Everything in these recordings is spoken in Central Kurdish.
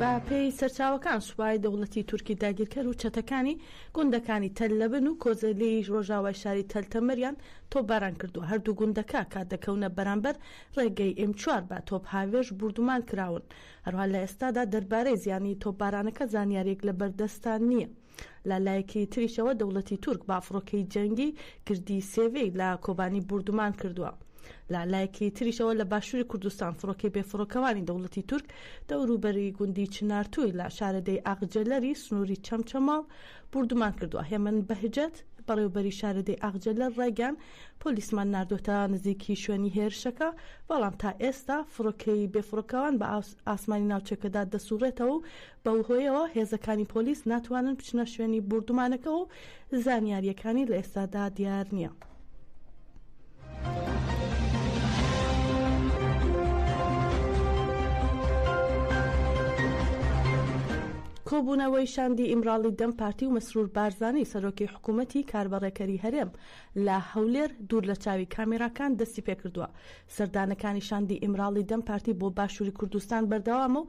بەپێی سەرچاوەکان سوپای دەوڵەتی تورکی داگیرکەر و چەتەکانی گوندەکانی تەل لەبن و کۆزەلی ڕۆژاوای شاری تەل تەمەریان تۆپباران کردووە هەردوو گوندەکە کە دەکەونە بەرامبەر ڕێگەی ئێم چوار بە تۆپ هاوێژ بوردومان کراون هەروەها لە ئێستادا دەربارەی زیانی تۆپبارانەکە زانیارییەک لەبەردەستان نییە. لە لایەکی تریشەوە دەوڵەتی تورک بە فڕۆکەی جەنگی گردی سێڤی لە کۆبانی بوردومان کردووە. لە لایەکی تریشەوە لە باشووری کوردستان فڕۆکەی بێفڕۆکەوانی دەوڵەتی تورک دەوروبەری گوندی چنارتووی لە شارەدێی ئاغجەلەری سنووری چەمچەماڵ بوردومان کردووە. هێمن بەهجەت، بەڕێوەبەری شارەدێی ئاغجەلەر ڕایگەیاند، پۆلیسمان ناردووەتە نزیکی شوێنی هێرشەکە، بەڵام تا ئێستا فڕۆکەی بێفڕۆکەوان بە ئاسمانی ناوچەکەدا دەسووڕێتەوە و بەوهۆیەوە هێزەکانی پۆلیس ناتوانن بچنە شوێنی بوردومانەکە و زانیارییەکانی لە ئێستادا دیار نییە. کۆبوونەوەی شاندی ئیمراڵی دەم پارتی و مەسرور بارزانانی سەرۆکی حکوومەتی کاربەڕێکەری هەرێم لە هەولێر دوور لە چاوی کامێراکان دەستی پێکردووە سەردانەکانی شاندی ئیمراڵی دەم پارتی بۆ باشووری کوردستان بەردەوامە و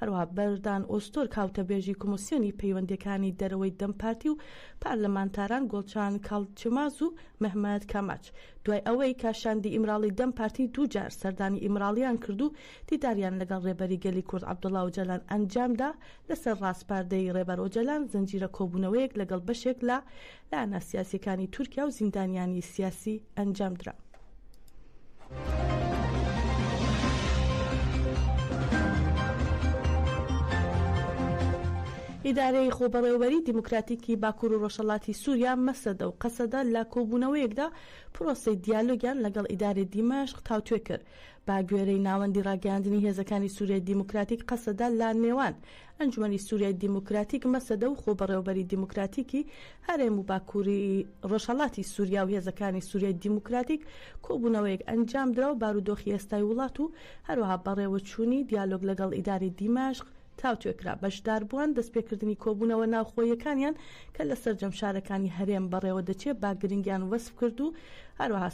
هەروەها بەردان ئۆزتورک هاوتەبێژی کۆمسیۆنی پەیوەندیەکانی دەرەوەی دەم پارتی و پارلمانتاران گۆڵچان کالچماز و مهمەت کاماچ دوای ئەوەی کە شاندی ئیمراڵی دەم پارتی دوو جار سەردانی ئیمراڵیان کرد و دیداریان لەگەڵ رێبەری گەلی کورد عەبدوڵا ئۆجالان ئەنجامدا لەسەر راسپاردەی رێبەر ئۆجەلان زنجیرە کۆبوونەوەیەک لەگەڵ بەشێک لە دانا سیاسیەکانی تورکیا و زیندانیانی سیاسی ئەنجام درا. ئیدارەی خۆبەڕێوەبەری دیموکراتیکی باکوور و ڕۆژهەڵاتی سووریا مەسەدە و قەسەدە لە کۆبوونەوەیەکدا پرۆسەی دیالۆگیان لەگەڵ ئیدارەی دیمەشق تاوتوێ کرد بە گوێرەی ناوەندی ڕاگەیاندنی هێزەکانی سوریای دیموکراتیک قەسەدە لە نێوان ئەنجومەنی سوریای دیموکراتیک مەسەدە و خۆبەڕێوەبەری دیموکراتیکی هەرێم و باکووری ڕۆژهەڵاتی سوریا و هێزەکانی سوریای دیموکراتیک کۆبوونەوەیەک ئەنجام درا و بارودۆخی ئێستای وڵات و هەروەها بەڕێوەچوونی دیالۆگ لەگەڵ ئیدارەی دیمەشق تاوتوێکرا، بەشداربووان دەستپێکردنی کۆبوونەوە ناوخۆییەکانیان کە لە سەرجەم شارەکانی هەرێم بەڕێوەدەچێ بە گرنگیان وەسف کرد و هەروەها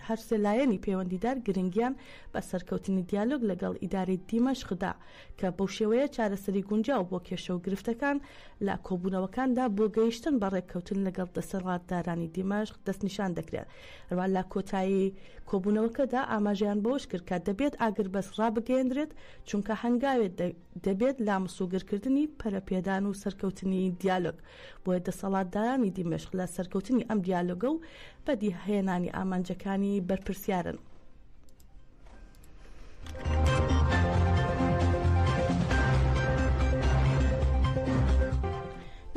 هەر سێ لایەنی پەیوەندیدار گرنگیان بە سەرکەوتنی دیالۆگ لەگەڵ ئیدارەی دیمەشق دا کە بەو شێوەیە چارەسەری گونجاو بۆ کێشە و گرفتەکان لە کۆبوونەوەکاندا بۆ گەیشتن بە ڕێککەوتن لەگەڵ دەسەڵاتدارانی دیمەشق دەستنیشان دەکرێ. هەروەها لە کۆتایی کۆبوونەوەکەدا ئاماژەیان بەوەش کرد کە دەبێت ئاگربەست ڕابگەیەندرێت، چونکە هەنگاوێ دەبێت لا مسوگرکردنی پەرەپێدان و سەرکەوتنی دیالۆگ، بۆیە دەسەڵاتدارانی دیمەشق لە سەرکەوتنی ئەم دیالۆگە و بەدیهێنانی ئامانجەکانی بەرپرسیارن.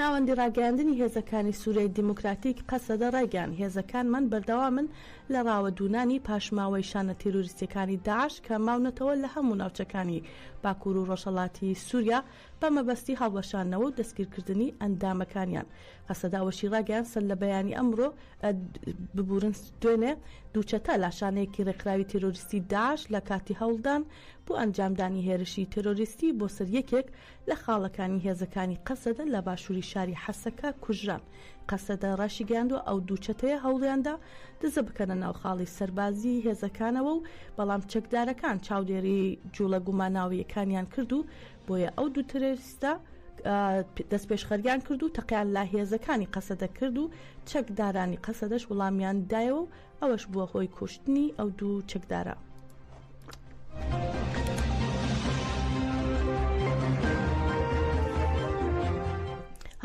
ناوەندی ڕاگەیاندنی هێزەکانی سوریای دیموکراتیک، قەسەدە، ڕایگەیاند، هێزەکانمان بەردەوامن لە ڕاوەدوونانی پاشماوەی شانە تیرۆریستییەکانی داعش کە ماونەتەوە لە هەموو ناوچەکانی باکوور و ڕۆژهەڵاتی سووریا بە مەبەستی هەڵوەشاندنەوە و دەستگیرکردنی ئەندامەکانیان. قەسەدە ئەوەشی ڕاگەیاند، سەرلەبەیانی ئەمڕۆ، ببورن دوێنێ، دوو چەتە لە شانەیەکی ڕێکخراوی تیرۆریستی داعش لە کاتی هەوڵدان بۆ ئەنجامدانی هێرشی تیرۆریستی بۆ سەر یەکێک لە خاڵەکانی هێزەکانی قەسەدە لە باشووری شاری حەسەکە کوژران. قەسەدە ڕاشیگەیاندووە ئەو دوو چەتەیە هەوڵیاندا دزە بکەنە ناو خاڵی سەربازیی هێزەکانەوە و بەڵام چەکدارەکان چاودێریی جووڵە گوماناوییەکانیان کرد و بۆیە ئەو دوو ترۆریستە دەستپێشخەریان کرد و تەقەیان لە هێزەکانی قەسەدە کرد و چەکدارانی قەسەدەش وڵامیان دایەوە و ئەوەش بووە هۆی کوشتنی ئەو دوو چەکدارە.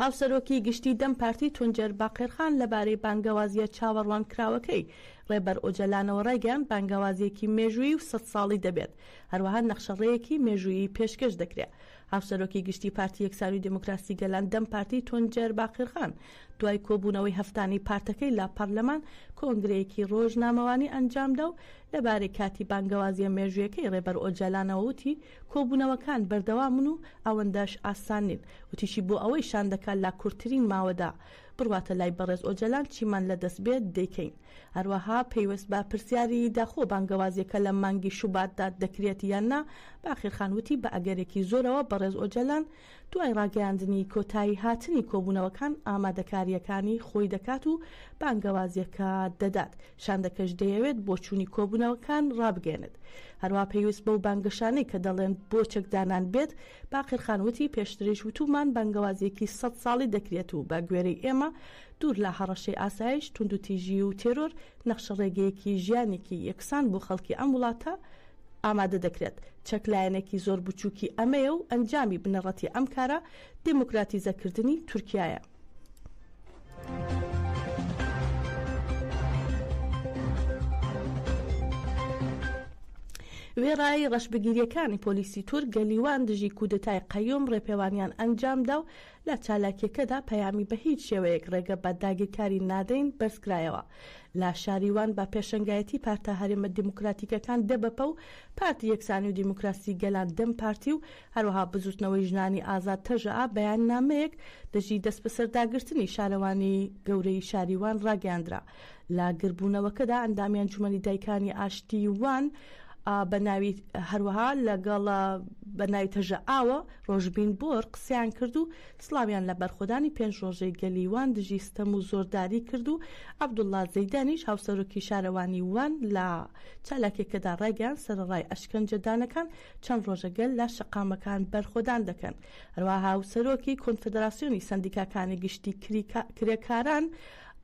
هاوسەرۆکی گشتی دەم پارتی تونجەر باقێرخان لەبارەی بانگەوازیە چاوەڕوان کراوەکەی ڕێبەر ئۆجەلانەوە ڕایگەیان بانگەوازیەکی مێژووی و سەد ساڵی دەبێت هەروەها نەخشەڕەیەکی مێژووی پێشکەش دەکرێت هاوسەرۆکی گشتی پارتی یەکسانی و دێموکراسی گەلان، دەم پارتی، تونجەر باقرخان، دوای کۆبوونەوەی هەفتانەی پارتەکەی لە پارلەمان، کۆنگرەیەکی رۆژنامەوانی ئەنجامدا و لەبارەی کاتی بانگەوازییە مێژوویەکەی رێبەر ئۆجالانەوە وتی، کۆبوونەوەکان بەردەوامن و ئەوەندەش ئاسان نین. وتیشی، بۆ ئەوەی شاندەکە لە کورتترین ماوەدا بڕواتە لای بەڕێز ئۆجەلان چیمان لەدەست بێت دەیکەین. هەروەها پەیوەست بە پرسیاری داخۆ بانگەوازیەکە لە مانگی شوباتدا دەکرێت یان نا، باقرخان وتی بە ئەگەرێکی زۆرەوە بەڕێز ئۆجەلان دوای ڕاگەیاندنی کۆتایی هاتنی کۆبوونەوەکان ئامادەکارییەکانی خۆی دەکات و بانگەوازیەکە دەدات، شاندەکەش دەیەوێت بۆچوونی کۆبوونەوەکان ڕابگەیەنێت. هەروەها پەیوەست بەو بانگەشانەی کە دەڵێن بۆ چەکدانان بێت، باقرخان وتی پێشتریش وتوومان بانگەوازیەکی سەد ساڵی دەکرێت و بە گوێرەی ئێمە دوور لە هەڕەشەی ئاسایش، توندوتیژی و تێرۆر، نەخشە ڕێگەیەکی ژیانێکی یەکسان بۆ خەڵکی ئەم وڵاتە ئامادە دەکرێت. چەک لایەنێکی زۆر بچووکی ئەمەیە و ئەنجامی بنەڕەتی ئەم کارە دێموکراتیزەکردنی تورکیایە. وێڕای ڕەشبگیرییەکانی پۆلیسی تورک، گەلیوان دژی کودەتای قەیوم ڕێپێوانیان ئەنجامدا و لە چالاکیەکەدا پەیامی بە هیچ شێوەیەک ڕێگە بە داگیرکاری نادەین بەرزکرایەوە. لە شاری وان بە پێشەنگایەتی پارتە هەرێمە دیموکراتیکەکان دەبەپە و پارتی یەکسانی و دیموکراسی گەلان دەم پارتی و هەروەها بزوتنەوەی ژنانی ئازاد تەژەئا بەیاننامەیەک دژی دەستبەسەرداگرتنی شارەوانی گەورەی شاری وان ڕاگەیاندرا لە گردبوونەوەکەدا ئەندامی ئەنجومەنی دایکانی ئاشتی وان بە ناوی هەروەها لەگەڵ بە ناوی تەژە ئاوە ڕۆژبین بۆر قسەیان کرد و سلاویان لە بەرخۆدانی پێنج ڕۆژەی گەلی وان دژی ستەم و زۆرداری کرد و عەبدوڵڵا زەیدانیش هاوسەرۆکی شارەوانی وان لە چالاکیەکەدا ڕایگەیان سەرەڕای ئەشکەنجەدانەکان چەند ڕۆژە گەل لە شەقامەکان بەرخۆدان دەکەن هەروەها هاوسەرۆکی کۆنفدراسیۆنی سەندیکاکانی گشتی کرێکاران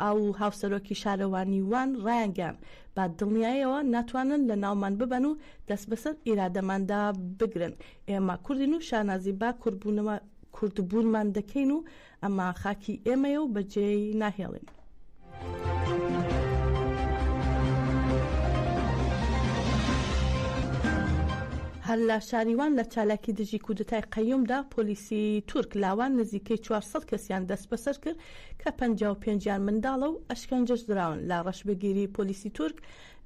ئاو و هاوسەرۆکی شارەوانیی وان ڕایانگەیاند، بە دڵنیاییەوە ناتوانن لەناومان ببەن و دەست بەسەر ئیرادەماندا بگرن. ئێمە کوردین و شانازی بە کوردبوونمان دەکەین و ئەمە خاکی ئێمەیە و بەجێی ناهێڵین. هەر لە شاری وان لە چالاکی دژی کودەتای قەیومدا پۆلیسی تورک لاوان نزیکەی چوار سەد کەسیان دەستبەسەر کرد کە پەنجا و پێنج یان منداڵە و ئەشکەنجەش دراون لە ڕەشبگیری پۆلیسی تورک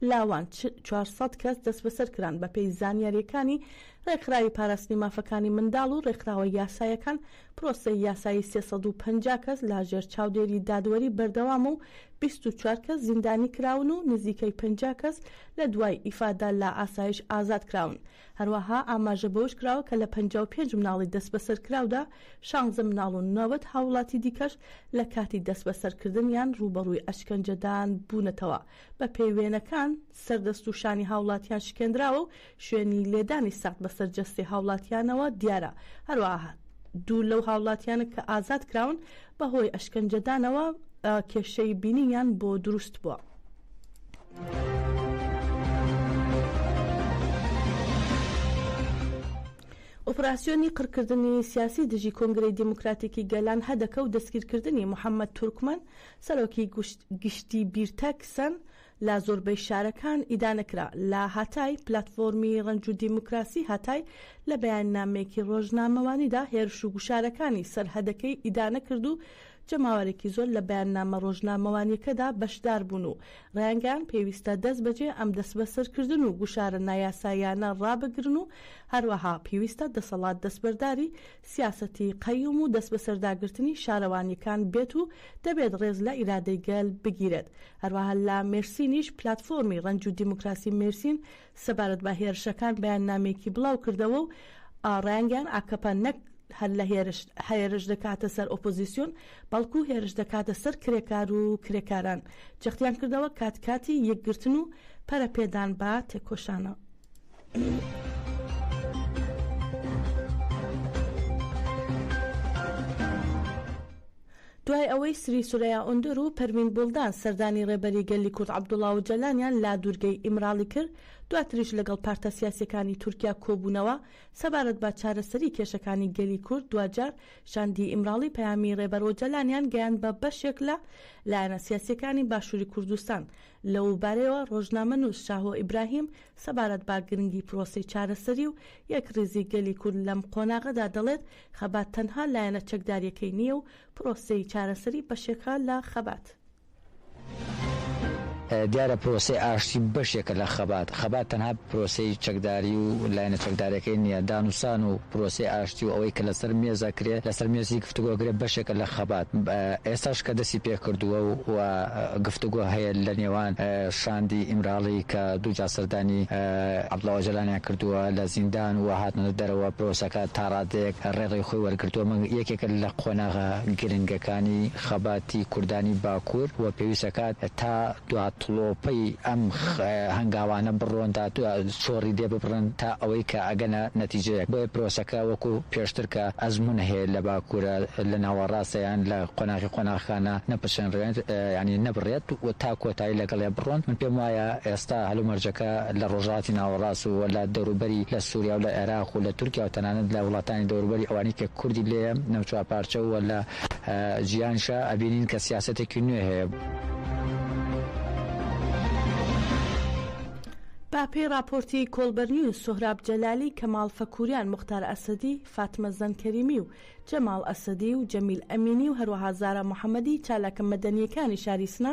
لاوان چوار سەد کەس دەستبەسەر کران بەپێی زانیاریەکانی ڕێکخراوی پاراستنی مافەکانی منداڵ و ڕێکخراوە یاسایەکان پرۆسەی یاسایی سێ سەد و پەنجا کەس لا ژێر چاودێری دادوەری بەردەوامە و بیست و چوار کەس زیندانی کراون و نزیکەی پەنجا کەس لە دوای ئیفادە لە ئاسایش ئازاد کراون هەروەها ئاماژە بەوەش کراوە کە لە پەنجا و پێنج مناڵی دەستبەسەرکراودا شانزە مناڵ و نەوەد هاووڵاتی دیکەش لە کاتی دەستبەسەرکردنیان ڕووبەڕووی ئەشکەنجەدان بوونەتەوە، بەپێی وێنەکان سەر دەست و شانی هاوڵاتیان شکێندراوە و شوێنی لێدانی سەخت بەسەر جەستەی هاوڵاتیانەوە دیارە، هەروەها دوو لەو هاوڵاتیانە کە ئازادکراون بەهۆی ئەشکەنجەدانەوە کێشەی بینینیان بۆ دروست بووە. ئۆپراسسیۆنی قڕکردنی سیاسی دژی کۆنگرەی دیموکراتیکی گەلان هەدەکە و دەستگیرکردنی محەممەد تورکمن سەرۆکی گشتی بیرتەکسن لە زۆربەی شارەکان ئیدانە کرا. لە هاتای، پلاتفۆرمی ڕەنج و دیموکراسی هاتای لە بەیاننامەیەکی ڕۆژنامەوانیدا هێرش و گوشارەکانی سەرهەدەکەی ئیدانە کرد و جەماوەرێکی زۆر لە بەیاننامە ڕۆژنامەوانیەکەدا بەشدار بوون و ڕایانگەیاند پێویستە دەست بەجێ ئەم دەسبەسەرکردن و گوشارە نایاساییانە ڕابگرن و هەروەها پێویستە دەسەڵات دەستبەرداری سیاسەتی قەیوم و دەستبەسەرداگرتنی شارەوانییەکان بێت و دەبێت ڕێز لە ئیرادەی گەل بگیرێت. هەروەها لە مێرسینیش پلاتفۆرمی ڕەنج و دیموکراسی مێرسین سەبارەت بە هێرشەکان بەیاننامەیەکی بڵاو کردەوە و ڕایانگەیان ئاکەپە نەک هەر لە هێرش هێرش دەکاتە سەر ئۆپۆزیسیۆن بەڵکو هێرش دەکاتە سەر کرێکار و کرێکاران جەختیان کردەوە کات کاتی یەکگرتن و پەرەپێدان بە تێکۆشانە. دوای ئەوەی سری سورەیا ئۆندور و پەروین بوڵدان سەردانی ڕێبەری گەلی کورد عەبدوڵا ئۆجالانیان لە دوورگەی ئیمراڵی کرد، دواتریش لەگەڵ پارتە سیاسییەکانی تورکیا کۆبوونەوە سەبارەت بە چارەسەری کێشەکانی گەلی کورد، دواجار شاندی ئیمراڵی پەیامی ڕێبەر ئۆجالانیان گەیاند بە بەشێک لە لایەنە سیاسییەکانی باشووری کوردستان، لەوبارەیەوە ڕۆژنامەنووس شاهۆ ئیبراهیم سەبارەت بە گرنگی پرۆسەی چارەسەری و یەکڕیزی گەلی کورد لەم قۆناغەدا دەڵێت، خەبات تەنها لایەنە چەکدارییەکەی نییە و پرۆسەی چارەسەری بەشێکە لە خەبات. دیارە پرۆسەی ئاشتی بەشێکە لە خەبات. خەبات تەنها پرۆسەی چەکداری و لایەنە چەکدارەکەی نییە. دانوسان و پرۆسەی ئاشتی و ئەوەی کە لەسەر مێز ئەکرێ، لەسەر مێزی گفتوگۆ ئەکرێ بەشێکە لە خەبات. ئێستاش کە دەستی پێکردووە و گفتوگۆ هەیە لە نێوان شاندی ئیمراڵی کە دووجار سەردانی عەبدوڵا ئۆجەلانیان کردووە لە زیندان و هاتنە دەرەوە، پرۆسەکە تا ڕادەیەک ڕێڕەوی خۆی وەرگرتووە، بەڵام یەکێکە لە قۆناغە گرنگەکانی خەباتی کوردانی باکوور و پێویست دەکات تا دواتڵۆپەی ئەم هەنگاوانە بڕۆن، تا چۆڕی لێ ببڕن تا ئەوەی کە ئەگەنە نەتیجەیەک. بۆیە پرۆسەکە وەکو پێشتر کە ئەزموونە هەیە لە باکوورە لە ناوەڕاستە یان لە قۆناغی قۆناغەکانە نەپچنرێت یانی نەبڕێت و تا دایی لەگەڵێ بڕۆن من پێم وایە ئێستا هەلومەرجەکە لە ڕۆژهەڵاتی ناوەڕاست و لە دەوروبەری لە سوریا و لە عێراق و لە تورکیا و تەنانەت لە وڵاتانی دەوروبەری ئەوانەی کە کوردی لێیە نەوچوار پارچە و لە جیهانیشا ئەبینین کە سیاسەتێکی نوێ هەیە. بە پێی ڕاپۆرتی کۆڵبەر نیوز، سۆهراب جەلالی، کەماڵ فەکووریان، موختار ئەسەدی، فاتمە زەن کەریمی و جەماڵ ئەسەدی و جەمیل ئەمینی و هەروەها زارا محەمەدی چالاکە مەدەنییەکانی شاری سنە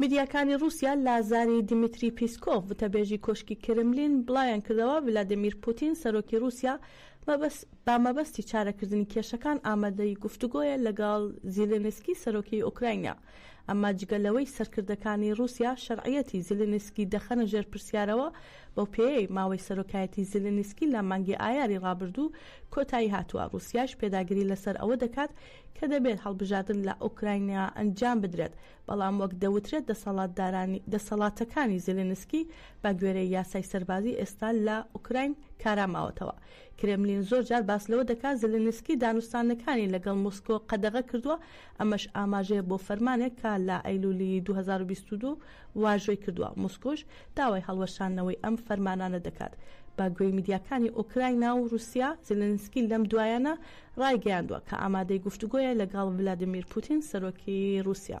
میدیاکانی رووسیا لازاری دیمیتری پیسکۆف وتەبێژی کۆشکی کرملین بڵایان کردەوە ولادیمیر پوتین سەرۆکی رووسیا با مەبەستی چارەکردنی کێشەکان ئامادەی گفتوگۆیە لەگەڵ زیلێنسکی سەرۆکی ئۆکراینیا ئەمما جگە لەوەی سەرکردەکانی ڕووسیا شەرعیەتی زیلینسکی دەخەنە ژێر پرسیارەوە، بەو پێیەی ماوەی سەرۆکایەتی زیلینسکی لە مانگی ئایاری ڕابردوو کۆتایی هاتووە، ڕووسیاش پێداگری لەسەر ئەوە دەکات کە دەبێت هەڵبژاردن لە ئۆکراینا ئەنجام بدرێت، بەڵام وەک دەوترێت دەسەڵاتدارانی دەسەڵاتەکانی زیلینسکی بە گوێرەی یاسای سەربازی ئێستا لە ئۆکراین کارا ماوەتەوە. کرێملین زۆر جار باس لەوە دەکات زیلینسکی دانوستانەکانی لەگەڵ مۆسکۆ قەدەغە کردووە، ئەمەش ئاماژەیە بۆ فەرمانێک کە لە ئەیلولی دوو هەزار و بیست و دوو واژۆی کردووە، مۆسکۆش داوای هەڵوەشاندنەوەی ئەم فەرمانانە دەکات. بە گوێی میدیاکانی ئۆکراینا و رووسیا، زیلینسکی لەم دوایانە رایگەیاندووە کە ئامادەی گفتوگۆیە لەگەڵ ڤلادیمیر پوتین، سەرۆکی رووسیا.